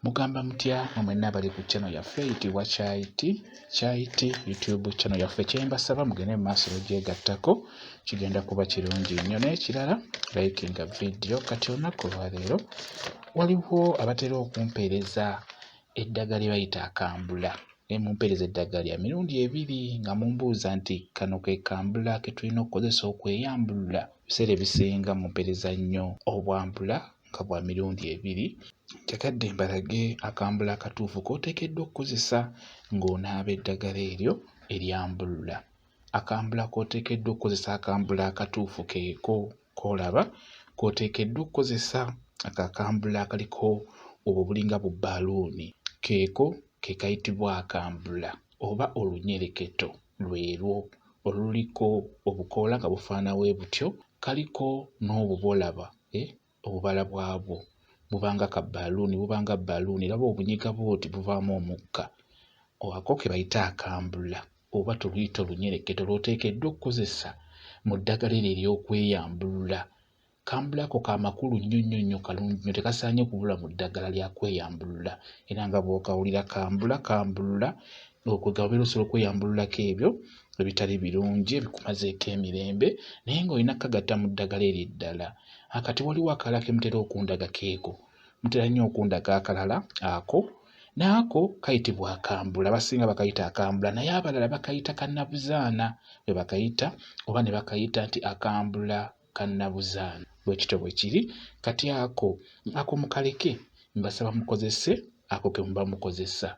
Mugamba mutya mwe nabali ku channel yaffe eyitibwa Chai Tea Chai Tea YouTube channel yaffe kyembasaba mugende mu maaso bagyegattako kigenda kuba kirungi nnyo n'ekirala likinga vidiyo kati olunaku olwaleero waliwo abatera okumpeereza eddagala lye bayita akambula naye mumpeereza eddagala lya mirundi ebiri nga mumbuuza nti kano ke kambula ke tulina okukozesa okweyambulula ebiseera ebisinga mumpeereza nnyo obwambula nga bwa mirundi ebiri. Njagadde mbalage akambulo akatuufu k'oteekeddwa okukozesa ng'onaaba eddagala eryo eryambulula. Akambulo k'oteekeddwa okukozesa akambulo akatuufu keeko k'olaba k'oteekeddwa okukozesa ako akambulo akaliko obwo bulinga bu bbaluuni keeko ke kayitibwa akambula oba olunyereketo lwerwo oluliko obukoola nga bufaana bwe butyo Kaliko n'obubolaba eh, obubala bwabwo buba nga ka bbaluuni buba nga bbaluuni era bw'obunyiga bw'oti buvaamu omukka ako ke bayita akambula oba tuluyita olunyereketo lw'oteekeddwa okukozesa mu ddagala eryo ery'okweyambulula. Kambula ako ka makulu nnyo nnyo nnyo kalungi nnyo tekasaanye kubula mu ddagala lya kweyambulula era nga bw'okawulira kambula kambulula okwo gaba obeera osobola okweyambululako ebyo ebitali birungi ebikumazeeko emirembe naye ng'olina kukagatta mu ddagala eryo eddala akati waliwo akalala ke mutera okundaga keeko mutera nnyo okundaga akalala ako naako kayitibwa akambula abasinga bakayita akambula naye abalala bakayita kannabuzaana bwe bakayita oba ne bakayita nti akambula kannabuzaana bwe kityo bwe kiri kati ako ako mukaleke mbasaba mukozese ako ke muba mukozesa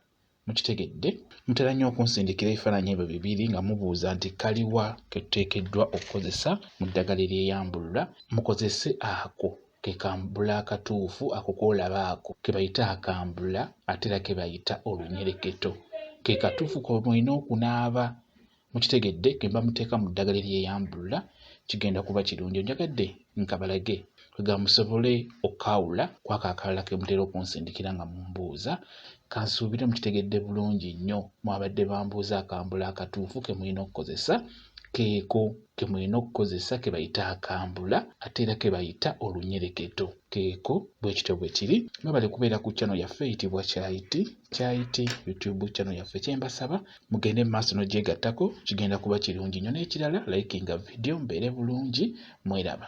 mukitegedde mutera nnyo okunsindikira ebifaananyi ebyo bibiri nga mubuuza nti kaliwa ke tuteekeddwa okukozesa mu ddagala eryeyambulula mukozese ako ke kambula akatuufu ako koolaba ako ke bayita akambula ate era ke bayita olunyereketo ke katuufu kwe mulina okunaaba mukitegedde ke bamuteeka mu ddagala eryeyambulula kigenda kuba kirungi onjagadde nkabalage kwega musobole okukaawula kwako akalala ke mutera okunsindikira nga mumbuuza kansuubire mukitegedde bulungi nnyo mwabadde bambuuza akambula akatuufu ke mulina okukozesa keeko ke mulina okukozesa ke bayita akambula ate era ke bayita olunyereketo keeko bwe kityo bwe kiri mwebale kubeera ku channel yaffe eyitibwa kyayiti kyayiti youtube channel yaffe kyembasaba mugende mu maaso n'ogyegattako kigenda kuba kirungi nnyo n'ekirala likinga vidiyo mbeere bulungi mweraba.